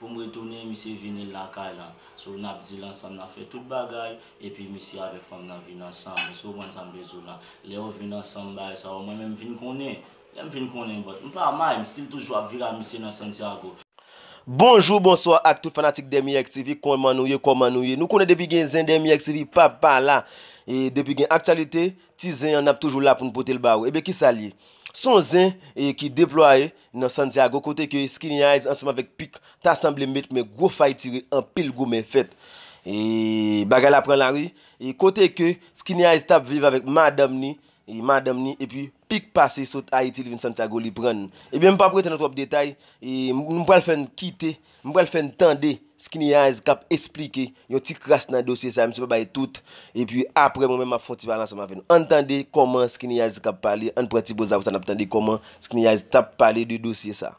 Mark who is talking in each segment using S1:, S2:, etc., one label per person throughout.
S1: Poum retounen misye vini lakay lan so nap dil ansanm nap fè tout bagay epi misye avèk fanm nan vin ansanm eske ou konprann sam vle diw lan lè yo vin ansanm bagay sa yo mwen menm vin konnen lèm vin konnen but m pa may m stil toujou ap vire a misye nan Santiago. Bonjou
S2: bonswa ak tout fanatik Dermyx TV kòman nou ye kòman nou ye nou konnen depi gen zen Dermyx TV pap pa la e depi gen aktyalite ti zen an nap toujou la poun potel ba ou ebyen kisal ye son zen e ki deplwaye Nan Santiago kote ke Skinny Eyes ansanm avèk Pic ta sanble met men gwo fay tire anpil goumen fèt. Bagay la pran lari kote ke Skinny Eyes tap viv avèk madanm ni madanm ni epi Pic pase sot Ayiti li vin Santiago li pran. Ebyen m pap rete nan twòp detay, m pral fè n kite. M pral fè n tande Skinny Eyes k ap esplike yon ti kras nan dosye sa a, misye pa bay tout, epi apre mwen menm m ap fè yon ti pale ansanm avè nou. An n tande kòman Skinny Eyes k ap pale, an n pran ti poz la apre sa n ap tande kòman Skinny Eyes t ap pale de dosye sa a.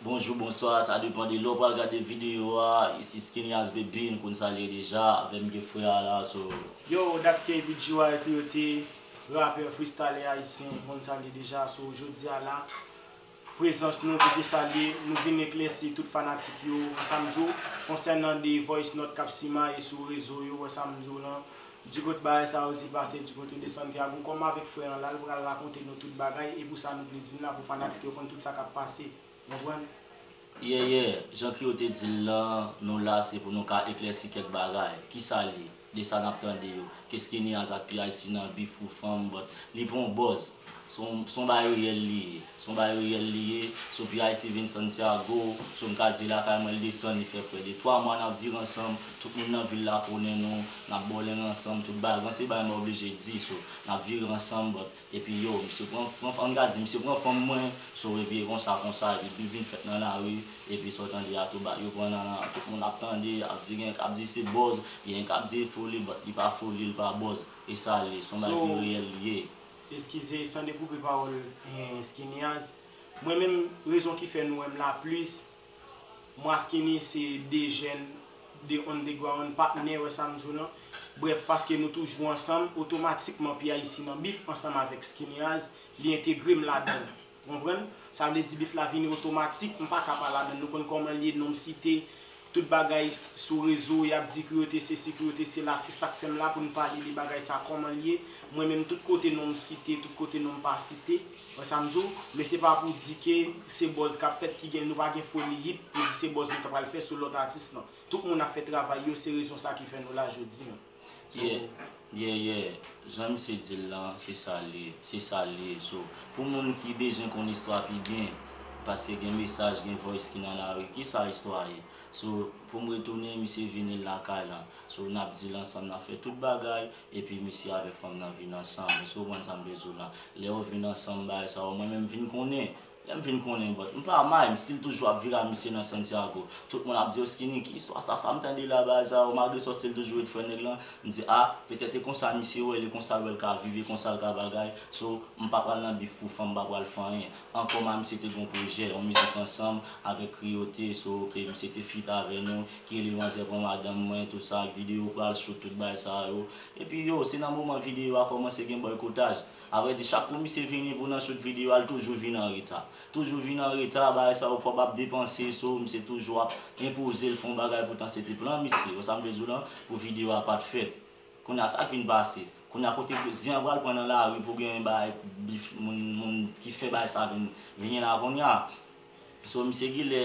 S1: Bonjou bonswa sa depan de lè w pral gade video a ici Skinias BB nou konn sa l ye deja avè m gen frè a la so. Yo that's
S3: KB GY Cleote rapè fristalè ayisyen nou konn sa l ye deja so jodi a la prezans nou kote sa l ye nou vin eklèsi tout fanatik yo wè sa m di w konsènan de voice note k ap simaye sou rezo yo wè sa m di w lan Di kot bagay sa yo di pase di kot yo de Santiago kòm avèk frè an la l pral rakonte nou tout bagay e pou sa nou plis vin la pou fanatik yo konn tout sa kap pase ou konprann. Yeah yeah,
S1: jan ke yo te di l lan nou la se pou nou ka eklèsi kèk bagay, kisa li, de sa nap tande yo, ke skinny as ak PIC nan bif pou fanm but li pran w buzz. Son bay reyèl li ye. Son bay reyèl li ye. Son pyc vin Santiago. Son ka di lakay mwen l desann li fè prè de 3 mwa nap viv ansanm. Tout moun nan vil la konnen nou. Nap bowling ansanm tout bagay. Gon se bagay mwen oblije di. So nap vire ansanm but epi yo misye pran pran an ka di misye pran fanm mwen. So epi e konsa konsa epi bil vin fèt nan lari epi sa w tande a tou bagay yo pran nan la tout moun ap tande ap di gen kap di se buzz gen kap di e foli but li pa foli li pa buzz e sa l ye. Son bagay ki reyèl li ye. Eskize san
S3: dekoupe pawòl Skineaz, mwen menm rezon ki fè nou wè m la plis, mwa Skinny se 2 jèn, 2 underground, patnè, wè sa m di w lan? Brèf, paske nou toujou ansanm, otomatikman P-Ice nan bif ansanm avèk Skineaz, li entegre m ladan l. Ou konprann? Sa vle di bif la vini otomatik, m paka pa ladann, nou konn kòman l ye, non m site, tout bagay sou rezo, y ap di kou yo te sesi, kou yo te sela, se sa k fè m la pou n pale de bagay sa kòman l ye, mwen menm tout kote non m site, tout kote non m pa site, wè sa m di w, men se pa pou di ke se buzz k ap fèt ki gen, nou pa gen foli hit pou di se buzz nou ta pral fè sou lòt atis nan. Tout moun ap fè travay yo, se rezon sa ki fè nou la jodi an. Yeah yeah yeah
S1: jan misye dil lan se sal ye se sal li ye so pou moun ki bezwen konn istwa pi byen paske gen mesaj gen voice ki nan lari kisa istwa ye so poum retounen misye vini lakay lan so nap dil ansanm nap fè tout bagay epi misye avèk fanm nan vin ansanm eskew konprann sam vle diw lan lè yo vin ansanm bagay sa yo mwen menm vin konnen Lèm vin konnen but m pa may m still toujou ap vire a misye nan Santiago tout moun ap di yo skinny ki istwa sa sam tande la ba za o malgre sa still toujou ret frè nèg lan m di ah petèt e konsa misye wèl e konsa wèl ka viv e konsal ka bagay so m pa pral nan bif pou fanm m pa pral fè anyen ankò m a misye te gon projè yon mizik ansanm avèk kriyote so ok misye te fit avè nou ki rele manzè pran madanm mwen tout sa ak video pral shoot tout bagay sa yo epi yo se nan moman video a kòmanse gen bòykotaj. Avrèdi chak kou misye vini pou nan shoot video al toujou vin anreta. Toujou vin anreta, bagay sa yo kob ap depanse so misye toujou ap enpozel fon bagay poutan se te plan misye wè sam vle diw lan pou video a pat fèt. Kounya sak vin pase? Kounya kote zen an pral pran nan lari pou gen bagay bif moun moun ki fè bagay sa vin vini la kounya. So misye gilè.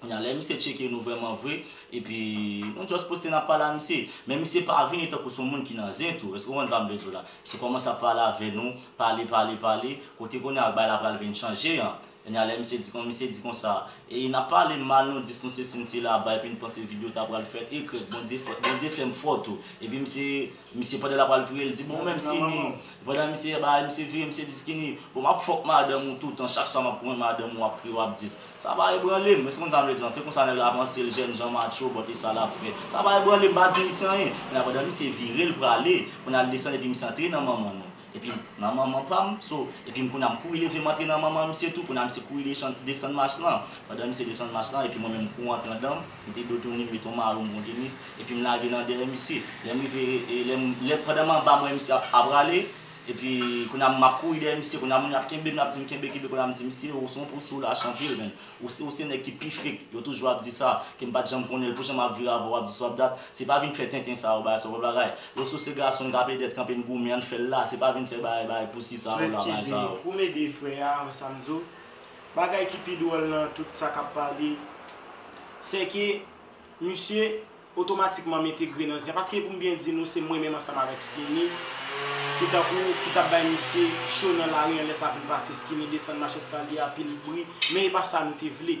S1: Kounye a lè misye tcheke nou vrèman vre epi nou just poste n ap pale a misye. Men misye pa vini tankou son moun ki nan zen tou, èske w konprann sa m vle di w la? Misye kòmanse ap pale avè nou, pale pale pale, kote kounye a bagay la pral vin chanje an. Kounye a lè misye di kon misye di konsa, e n ap pale mal nou dis nou sesi n sela aba epi n panse video ta pral fèt ekrèk Bondye fè Bondye fè m fò tou epi misye Misye pandan lap al vire l di bon men skinny pandan misye ba li misye vire misye di skinny bon map fòk madanm ou toutan chak swa map pran madanm ou ap kriye wap dis sa pa ebranle m eskew konn sa m vle di an se konsa nèg la panse l jènjan matcho bòt e sa lap fè sa pa ebranle m pa di misye anyen pandan misye vire l prale pou nal desann epi misye antre nan manman nou Epim nan manman pam so epim kounya m kouri leve m antre nan manman misye tou kounya misye kouri desann mach lan pandan misye desann mach lan epi mwen menm m kouri antre andanm mete do tounin m met yon maro m bon tenis epim lage nan dèyè misye lèm rive lèm pandan m anba m wè misye ap rale epi kounya map kouri dèyè misye kounya moun yo ap kenbe m yap di m kenbe kenbe kounya m di misye ou son pousou lach anpil menn. Ou se ou se nèg ki pi fake, yo toujou ap di sa, ke m pat janm konnen l, pou jan map vire avè w wap di sa wap dat, se pa vin fè tenten sa yo bagay sa yo pa bagay, yo sou se gason n ka ple dèt kanpe n goumen ann fè l la, se pa vin fè bagay bagay pousi sa yo la bagay sa yo. Pou m ede frè a
S3: an sa m di w, bagay ki pi dwòl nan tout sa kap pale, sè ke misye otomatikman m entegre nan Zya paske pou m byen di nou se mwen menm ansanm avèk Skinny ki tankou ki t ap bay misye cho nan lari an lè sa fin pase Skinny desann mach eskalye a pil bri men e pa sa nou te vle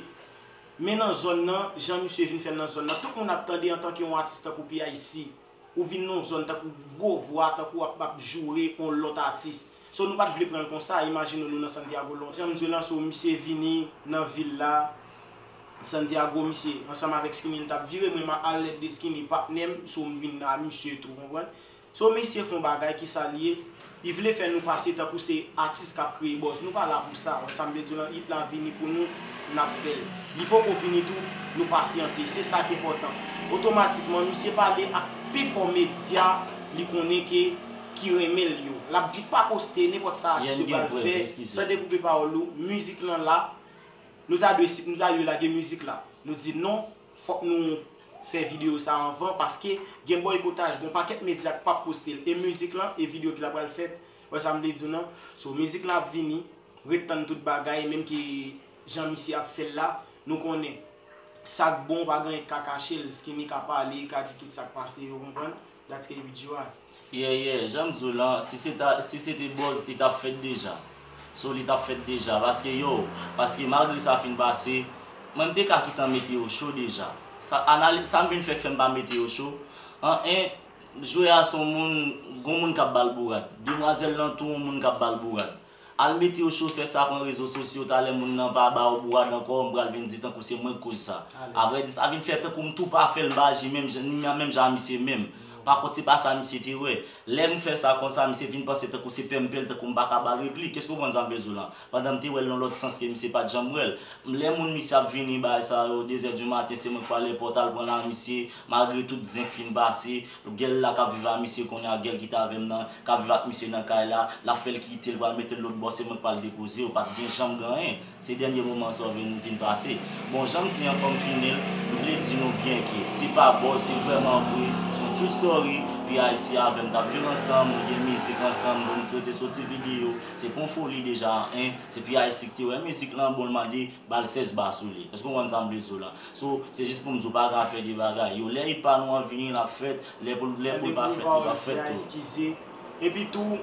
S3: men nan zòn nan jan misye vin fè l nan zòn nan tout moun ap tande antanke on atis tankou PIC ou vin nan on zòn tankou gwo vwa tankou w ap joure on lòt atis So nou pat vle pranl konsa imajine nou nan Santiago lon jan misye lan so misye vini nan vil la Santiago misye ansanm avèk skinny li tap vire mwen ma alèt de skinny patnèm so m vin a misye tou konprann so misye fon bagay kisa li ye li vle fè nou pase tankou se atis kap kreye bòz nou pa la pou sa wè sam vle diw lan it la vini pou nou nap fèl li poko vini tou nou pasyante se sak enpòtan otomatikman misye pale ak pi fò medya li konnen ke ki renmen l yo lap di pa poste nenpòt sa atis yo pral fè san dekoupe pawòl ou mizik lan la nou ta dwe si nou ta dwe lage mizik la nou di non fòk nou fè video sa anvan paske gen bòykotaj gon pakèt medya k pap poste l e mizik lan e video ki la pral fèt wè sa m vle di w nan so mizik lan ap vini ret tann tout bagay menm ke jan misye ap fè l la nou konnen sak bon pa gen anyen k ka kache l skinny ka pale li ka di tout sak pase ou konprann. Dat ke ui Djo a. Yeah yeah janm
S1: diw lan si se ta si se te buzz li tap fèt deja so li tap fèt deja paske yow paske malgre sa fin pase mwen m te ka kitan mete yo cho deja sa analiz sa m vin fè fèm pa mete yo cho an 1 jwè a son moun gon moun kap bal bourad demwazèl lan tou on moun kap bal bourad. Al mete yo chofè sa pran rezo sosyo talè moun nan pa baw bwa dan kò mpral vin di tankou se mwenk koz sa avrè di sa vin fè tankou mtou pa fèl mpa aji menm jan ni menm jan a misye menm pakont se pa sa misye te wè lèm fè sa konsa misye vin panse tankou se pèm pèl tankou mpaka ba replik èske ou konprann sa mvle diw lan pandan mte wèl nan lòt sans ke misye pat janm wèl lè moun misye ap vini bay sa yo dezè du maten se mwenk pwale pòt al pran la misye malgre tout zen k fin pase Gèl la kap viv a misye konnya gèl ki t avèm nan kap viv ak misye nan kay la lap fèl kitel pral metel lòt bò se mwen k pral depozew pat gen janm gen anyen se dènye moman sa w vin vin pase bon janm di an fòm fini l m vle di nou byen ke se pa bòz se vrèman vre son true story pi ayisyen avèm tap viv ansanm nou gen mizik ansanm bon m krete soti video se pon foli deja a 1 se pi ayisyen ki te wè mizik lan bon l mande bal 16 ba sou li èske w konprann sa m vle di w la So, se jis pou m di w pa ka fè de bagay yo. Lè hit pa nou an vini, l ap fèt. Lè pou l Sunday pa fèt, li p ap fèt tou. eskize.
S3: Epi tou,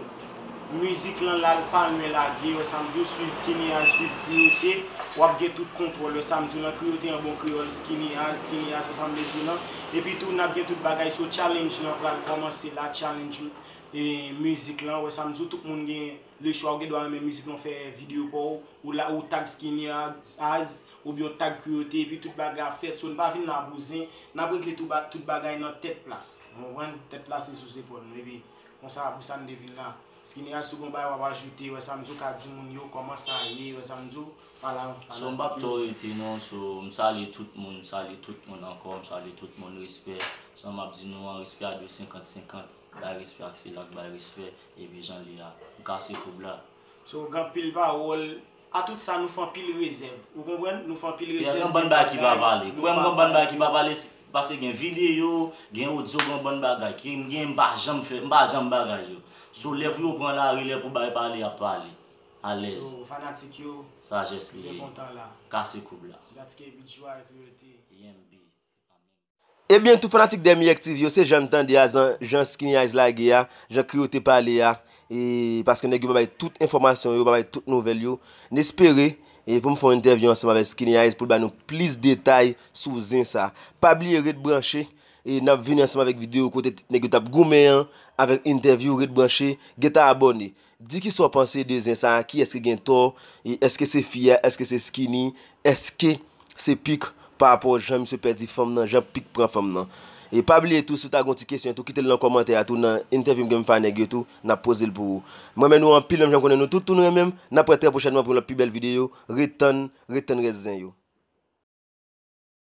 S3: mizik lan la l pa lwen lage. Wè sa m di w, swiv Skinny Azz, swiv Crio-T, w ap gen tout kontwòl. Wè sa m di w lan, Crio-T an bon kreyòl, Skinny Azz, Skinny Azz, wè sa m vle di w lan. Epi tou, n ap gen tout bagay. So, challenge lan pral kòmanse la, challenge mizik lan. Wè sa m di w, tout moun gen lechwa. Ou gen dwa renmen mizik lan, fè videyo pa w, ou la, ou tag Skinny Azz. Oubyen yo tag Cruauté epi tout bagay ap fèt so n pa vin la bouzen n ap regle tout bagay nan tèt plas ou konprann tèt plas se sou zepòl nou epi konsa pou sa n te vin la Skineras si w gen yon bagay w ap ajoute yo sa m di w ka di moun yo kòman sa ye yo sa m di w pa la fanatik yo. So m pap twò
S1: rete non so m salye tout moun m salye tout moun ankò m salye tout moun respè sa m ap di nou an respè a dwe senkant senkant bay respè ak sila k bay respè epi jan l ye a m kase koub la. So gen anpil
S3: pawòl. A tout sa nou fè anpil rezèv. Ou konprann? Nou fè anpil rezèv. Gen anbann bagay ki pa
S1: pale. Kwè m gen anbann bagay ki pa pale pase gen videyo, gen odyo, gen anbann bagay ke m gen m pa janm fè, m pa janm bagay yo. So lè pou yo pran lari, lè pou bay pale y ap pale. Alèz. So fanatik yo.
S3: Sajès li ye. Byen kontan
S1: la.
S3: Kase
S1: koub
S3: la.
S1: That's KB Joie
S3: Create. Yenb.
S2: Ebyen tout fanatik Dèmiyèk TV yo se jan n tande a zan jan Skinny Eyes lage a, jan Krio te pale a e paske nèg yo pa bay tout enfòmasyon yo, pa bay tout nouvèl yo, n espere e pou m fè yon entèvyou ansanm avèk Skinny Eyes pou l ba nou plis detay sou zen sa. Pa bliye ret branche e n ap vini ansanm avèk videyo kote nèg yo t ap goumen an avèk entèvyou ret branche, gentan abòne. Di kisa w panse de zen sa kiyès ki gen tò e èske se fi a èske se skinny èske se pic parapò jan misye pèdi fanm nan jan pic pran fanm nan e pa bliye tou si w ta gen yon ti kesyon tou kite l nan kòmantè a tou nan entèvyou m gen m fè a nèg yo tou nap poze l pou ou m renmen nou anpil menm jan m konnen nou tout tou nou renmen m nap wè trè pwochènman pou yon lòt pi bèl videyo ret tann ret tann rès zen yo.